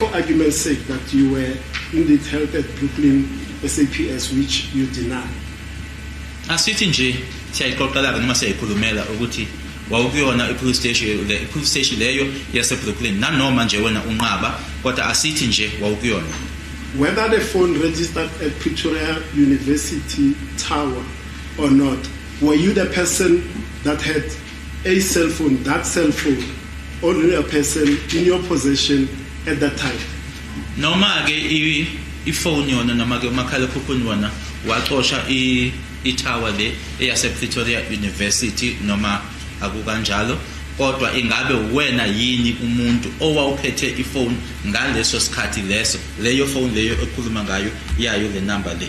For argument's sake that you were indeed held at Brooklyn SAPS which you deny. Asithi nje siyayixoxelaka noma siyayikhulumela ukuthi wawukuyona i-police station le i-police station leyo yasebrooklyn nanoma nje wena unqaba kodwa asithi nje wawukuyona whether the phone registered at pretoria university tower or not were you the person that had A cell phone, that cell phone, ordinary person in your possession at that time. Noma ke ifone yona noma ke umakhalekhukhwini wona wacosha i itower le eyase Pretoria University noma akukanjalo kodwa ingabe uwena yini umuntu owawuphethe ifone ngaleso sikhathi leso leyo phone leyo ekhuluma ngayo yayo le number le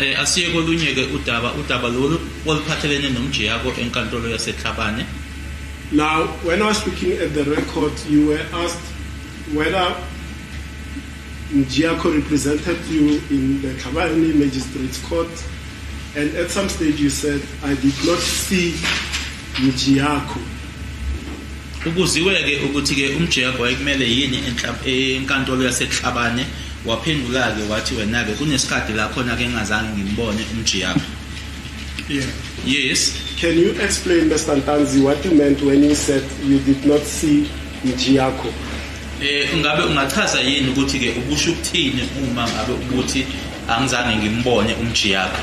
Eh, asiye kolunye-ke udaba udaba lolu oluphathelene nomjiyako enkantolo yasetlhabane now when i was looking at the record you were asked whether mjiyako represented you in the tlhabane magistrates court and at some stage you said i did not see mjiyako Ukuziwe-ke ukuthi-ke uMjeyabha wayekumele yini enkantolo yaseKuhlabane waphendula-ke wathi wena-ke kunesikhathi la khona-ke engazange ngimbone uMjeyabha. Yeah. Yes. Can you explain, Mr. Ntanzi, what you meant when you said you did not see Mjiyakho? Eh ngabe ungachaza yini ukuthi ke ubusho ukuthini uma ngabe ukuthi angizange ngimbone umjiyakho?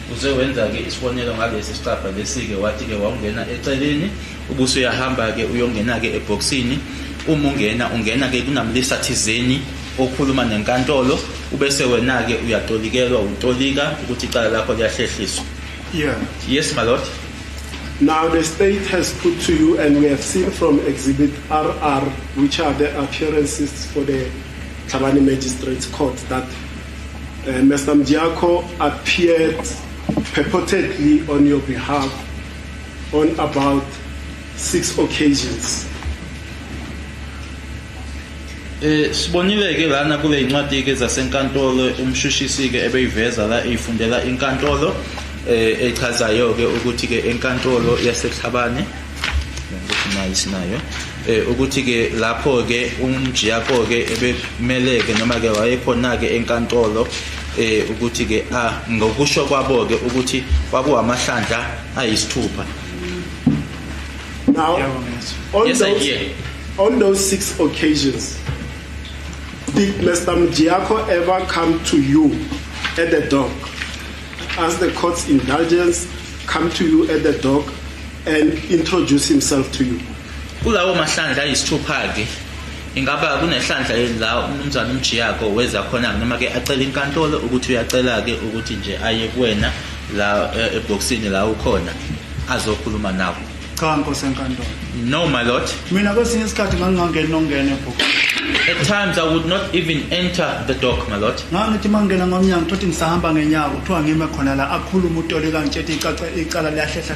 Uze wenza-ke isibonelo ngalesi sicabha lesi-ke wathi-ke wawungena eceleni ubuse uyahamba-ke uyongena-ke ebhokisini uma ungena ungena-ke kunamlisa thizeni okhuluma nenkantolo ubese wena-ke uyatolikelwa utolika ukuthi icala lakho liyahlehliswa yeah. yes my lord Now the state has put to you, and we have seen from Exhibit RR, which are the appearances for the Tlhabane Magistrates Court, that Uh, eh, Mr. Mdiako appeared purportedly on your behalf on about six occasions. Eh sibonile ke lana kule incwadi ke zasenkantolo umshushisi ke ebeyiveza la ifundela inkantolo eh echazayo ke ukuthi ke enkantolo yaseThabane sinayo eh ukuthi ke lapho ke umjiyako ke ebemele ke noma ke wayekhona ke enkantolo eh ukuthi ke ah ngokusho kwabo ke ukuthi kwakuwamahlandla ayisithupha now on yes, those on those six occasions did Mr. Mjiyako ever come to you at the dock as the court's indulgence come to you at the dock and introduce himself to you kulawo mahlandla ayisithupha-ke ingaba kunehlandla la umnumzane umjiyako weza khona noma ke acela inkantolo ukuthi uyacela ke ukuthi nje aye kuwena la e, ebhokisini la ukhona azokhuluma nawo cha nkosi enkantolo no my lord mina kwesinye isikhathi ngangingangeni nongena ebhokisini at times i would not even enter the dock my lord ngangithi mangena ngomnyango thothi ngisahamba ngenyawo kuthiwa ngime khona la akhuluma utoleka ngitshethe icala liyahlehla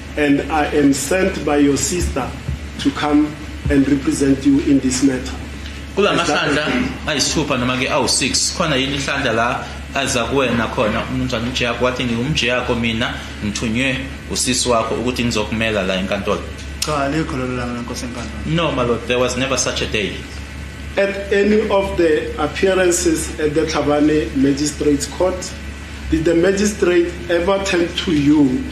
And I am sent by your sister to come and represent you in this matter. Kula mahlandla ayisithupha noma ke awu6 khona yini ihlandla la aza kuwena khona umnumzane uJack wathi ngiwumjiyakho mina ngithunywe usisi wakho ukuthi ngizokumela la enkantolo cha likho lelo langa lenkosi enkantolo no my lord there was never such a day at any of the appearances at the Tlhabane Magistrates Court did the magistrate ever tell to you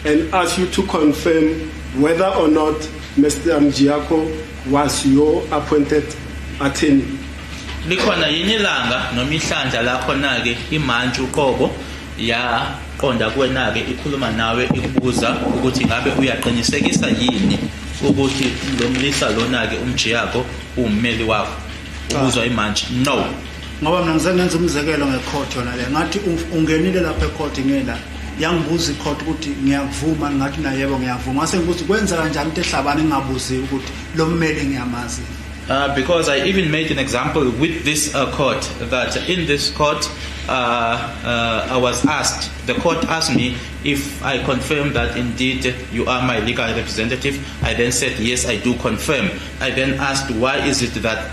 and ask you to confirm whether or not Mr. Mjiako was your appointed attorney. Likhona yini ilanga noma ihlandla lakho nake imantshi uqobo yaqonda kuwena-ke ikhuluma nawe ikubuza ukuthi ngabe uyaqinisekisa yini ukuthi lo mlisa lona-ke umjiyako uwummeli wakho ubuzwa imantshi no ngoba mina ngize ngenza umzekelo ngecourt yona le ngathi ungenile lapha ecourt ngela yangibuza icourt ukuthi ngiyakuvuma ngathi nayebo ngiyavuma ngase ngibuza kwenza kanjani into ehlabani ngingabuziwe ukuthi lo mmeli ngiyamazi Uh, because I even made an example with this uh, court that in this court uh, uh I was asked, the court asked me if I confirm that indeed you are my legal representative. I then said, yes, I do confirm. I then asked, why is it that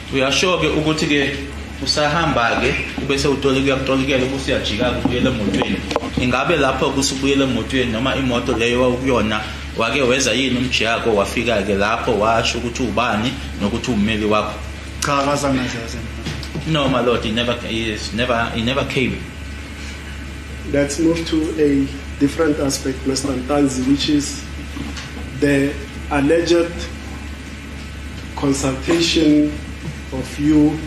Uyasho-ke ukuthi-ke usahamba-ke ube sewutolika kutolikela ukuthi uyajika-ke ubuyele emotweni ingabe lapho kusubuyele emotweni noma imoto leyo wawukuyona wake weza yini umjiyako wafika-ke lapho washo ukuthi ubani nokuthi ummeli wakho cha akazange azaze no my lord he never, he is never, he never came let's move to a different aspect mr ntanzi which is the alleged consultation of you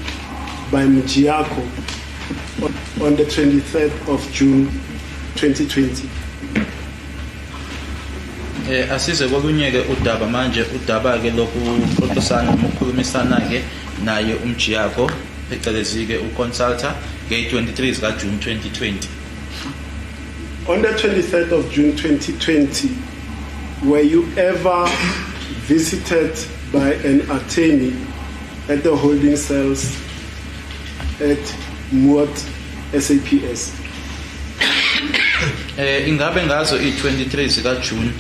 by Mjiako on the 23rd of June 2020. Eh asize kolunyeke udaba manje udaba ke lokuxoxisana nokukhulumisana ke naye umjiyako phecelezi ke uconsulta nge 23 zika June 2020 On the 23rd of June 2020, were you ever visited by an attorney at the holding cells at Muat SAPS? Eh ingabe ngazo i23 zika June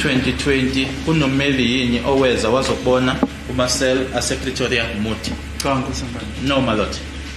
2020 kunomeli yini oweza wazobona kuma cell asePretoria Muti? Cha nkosi manje. No my lord.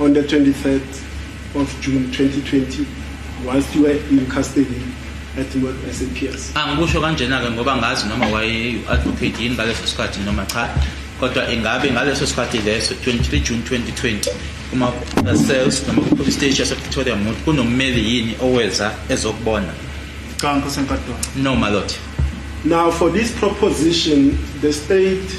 On the 23rd of June 2020, whilst you were in custody at SAPS. Angikusho kanjena-ke ngoba ngazi noma wayeyi-advocate yini ngaleso sikhathi noma cha kodwa ingabe ngaleso sikhathi leso 23 June 2020 kuma cells noma ku-police station yasepretoria mut kunommeli yini oweza ezokubona cha nkosi enkadona no my lord now for this proposition the state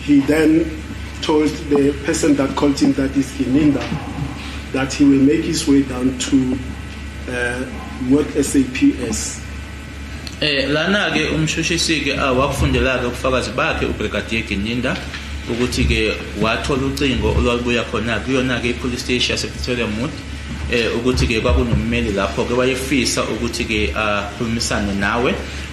He then told the person that called him that is Gininda that he will make his way down to uh, what SAPS. Eh lana ke umshushisi ke awakufundela ke ubufakazi bakhe uBrigadier Gininda ukuthi ke wathola ucingo olwalubuya khona kuyona ke ipolice station yasePretoria Mood eh ukuthi ke kwakunommeli lapho ke wayefisa ukuthi ke akhulumisane nawe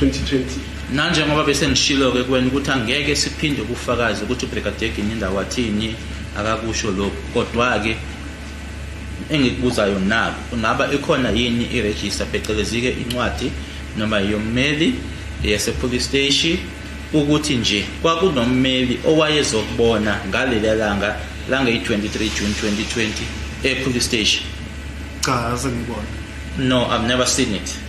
2020. Nanjengoba bese ngishilo-ke kuwena ukuthi angeke siphinde ubufakazi ukuthi uBrigadier Gininda wathini akakusho lokhu kodwa-ke engikubuzayo naku kungaba ikhona yini irejista phecelezi-ke incwadi noma yommeli yasepolice steshi ukuthi nje kwakunommeli owayezokubona ngaleliya langa langeyi-23 june 2020 epolice steshi cha azengibona no i've never seen it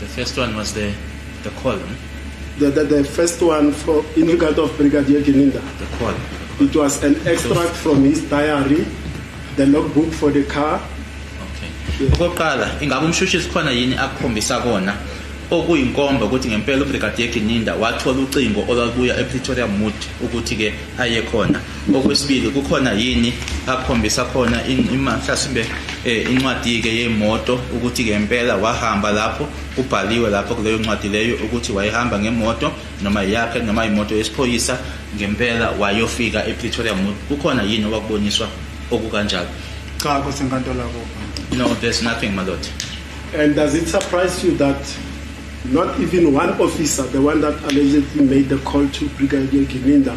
The first one was the, the call. Hmm? The, the, the, first one for in regard of Brigadier Gininda. The call. It was an extract from his diary, the logbook for the car. Okay. Okokuqala, ingabe umshushisi khona yini akukhombisa kona okuyinkomba ukuthi ngempela uBrigadier Gininda wathola ucingo olwalubuya ePretoria Mood ukuthi-ke aye khona Okwesibili kukhona yini akhombisa khona mhlasimbe um eh, incwadi-ke yemoto ukuthi ngempela wahamba lapho kubhaliwe lapho kuleyo ncwadi leyo ukuthi wayehamba ngemoto noma yakhe noma imoto yesiphoyisa ngempela wayofika epretoria mut kukhona yini okwakuboniswa okukanjalo cha kusenkantolo akuba no there's nothing my lord and does it surprise you that not even one officer the one that allegedly made the call to brigadier gininda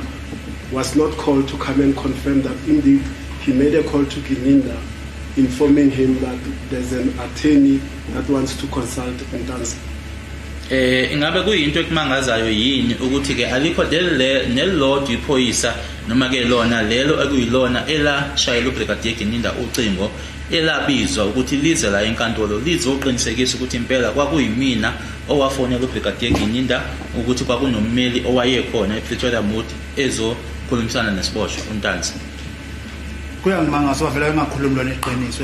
was not called to come and confirm that indeed he made a call to Gininda informing him that there's an attorney that wants to consult Ntanzi. Eh ingabe kuyinto ekumangazayo yini ukuthi ke alikho leli nelilodwa iphoyisa noma ke lona lelo ekuyilona elashayela uBrigadier Gininda ucingo elabizwa ukuthi lize la enkantolo lizoqinisekisa ukuthi impela kwakuyimina owafonela uBrigadier Gininda ukuthi kwakunommeli owayekhona ePretoria Mood ezokhulumisana nesiboshwa uNtanzi. Kuyangimangaza wavela engakhulumi lona iqiniso,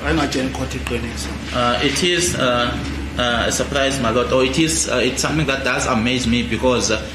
ayengatsheni ikhotha iqiniso. Uh, it is uh, uh, a surprise, my lord, or it is uh, it's something that does amaze me because uh,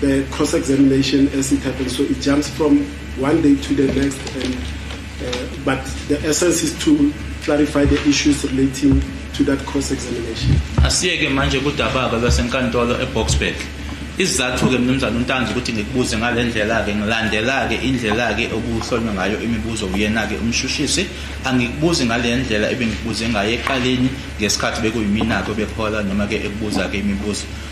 The cross examination as it happens, so it jumps from one day to the next. And, uh, but the essence is to clarify the issues relating to that cross examination. Asiyeke manje kudababa basenkantolo eBoksburg. Isizathu ke mnumzane uNtanzi ukuthi ngikubuze ngalendlela ke ngilandela ke indlela ke okuhlonywa ngayo imibuzo uyena ke umshushisi angikubuzi ngalendlela ebengikubuze ngayo eqaleni ngesikhathi bekuyimina ke bekhola noma ke ekubuza ke imibuzo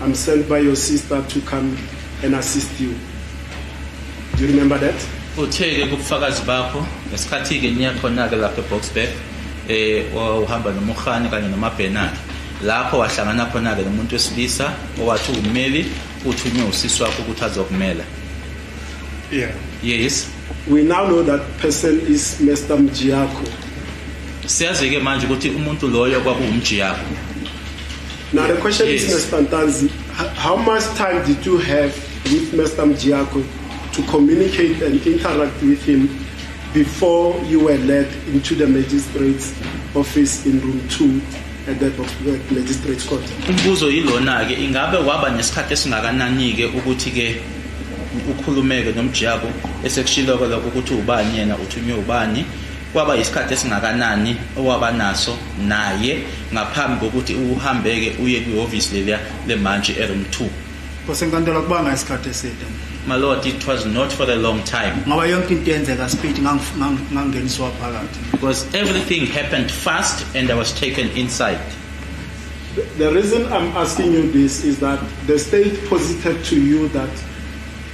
I'm sent by your sister to come and assist you. Do you remember that? Uthe-ke kubufakazi bakho ngesikhathi-ke niya khona-ke lapha eBoksburg eh wahamba nomurhani kanye nomabhenaki lapho wahlangana khona-ke nomuntu wesilisa owathi ummeli uthunywe usisi wakho ukuthi azokumela yeah yes we now know that person is Mr Mjiyakho siyazi-ke manje ukuthi umuntu loyo kwakuwumjiyakho Now the question yes. is, Mr. Ntanzi, how much time did you have with Mr. Mjiako to communicate and interact with him before you were led into the magistrate's office in room 2 at the magistrate's court? Umbuzo yilona-ke ingabe waba nesikhathi esingakanani-ke ukuthi-ke ukhulumeke nomjiyako esekushiloko lokho ukuthi ubani yena uthunywe ubani Kwaba yisikhathi esingakanani owaba naso naye ngaphambi kokuthi uhambeke uye kwihhovisi leliya lemantshi eroom 2? Kosenkantolo kubanga isikhathi eside. My lord, it was not for a long time. Ngoba yonke into yenzeka speed ngangeniswa phakathi. Because everything happened fast and I was taken inside. The reason I'm asking you this is that the state posited to you that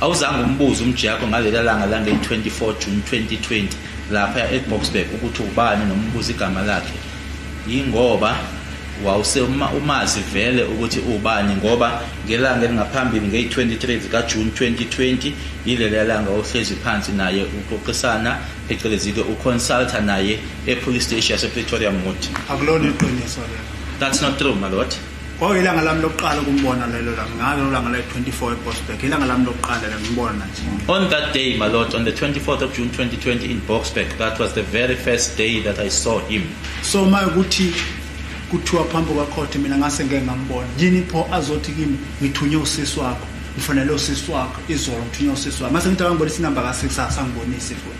Awuzange umbuze umjiyakho ngaleli langa lange-24 June 2020 laphaya eBoksburg ukuthi ubani noma umbuze igama lakhe yingoba wawuse umazi vele ukuthi ubani ngoba ngelanga elingaphambili ngeyi-23 zikajuni 2020 yileli yalanga ohlezi phansi naye uxoxisana phecelezi-ke uconsulta naye epolice station yasepretoria moti akulona iqiniso lelo that's not true malot kwakuyilanga lami lokuqala ukumbona lelo langa ngalo langa la 24 eBoxburg ilanga lami lokuqala la ngimbona nje on that day my lord on the 24th of June 2020 in Boxburg that was the very first day that I saw him so my ukuthi kuthiwa phambi kwakhothe mina ngase ngeke ngambona yini pho azothi kimi ngithunye usisi wakho ngifanele usisi wakho izolo ngithunye usisi wakho mase ngithi akangibonisa inamba ka6 asangibonisi futhi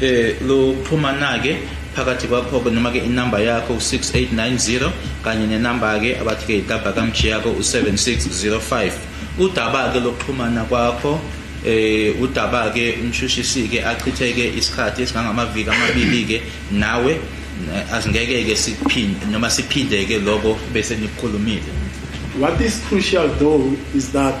Eh luxhumana-ke phakathi kwakho-ke noma-ke inamba yakho u-6890 kanye nenamba-ke abathi-ke yitaba kamji yakho u-7605 udaba-ke lokuxhumana kwakho eh udaba-ke umshushisi-ke achitheke isikhathi esingangamaviki amabili-ke nawe eh, asingeke-ke siphinde noma siphinde-ke lokho bese nikukhulumile What is crucial though is that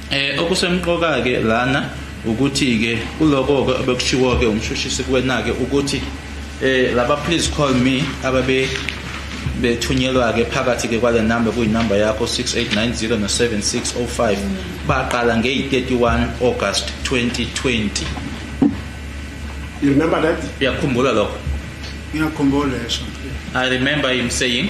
Eh okusemqoka ke lana ukuthi ke kuloko ke obekushiwo ke umshushisi kuwena ke ukuthi eh laba please call me ababe bethunyelwa ke phakathi ke kwale number kuyinumber yakho 6890 no 7605 baqala nge 31 August 2020 You remember that? Uyakhumbula lokho? Ngiyakhumbula esho. I remember him saying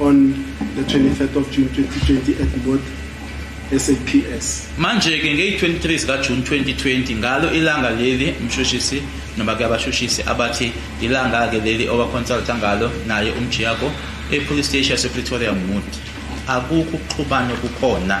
On the 23rd of June 2020 at Mbot SAPS. Manje-ke ngeyi-23 zikaJuni 2020 ngalo ilanga leli mshushisi noma ke abashushisi abathi ilanga-ke leli owaconsulta ngalo naye umjiyako epolice station yasepretoria mut akukho ukuxhubana kukhona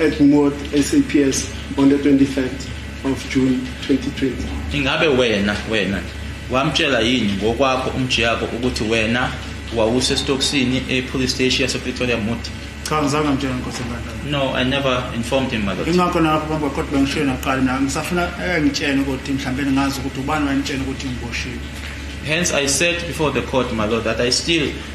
at Mood SAPS on the 23rd of June 2020. Ingabe wena wena wamtshela yini ngokwakho umjiyako ukuthi wena wawusesitokisini e-police station yasepretoria mood cha ngizange ngitshela nkosi enkantolo no i never informed him mother ingakho nalapho bamba kodwa bengishiye naqali naye ngisafuna engitshene ukuthi mhlawumbe ningazi ukuthi ubani wayemtshene ukuthi ngiboshiwe hence i said before the court my lord that i still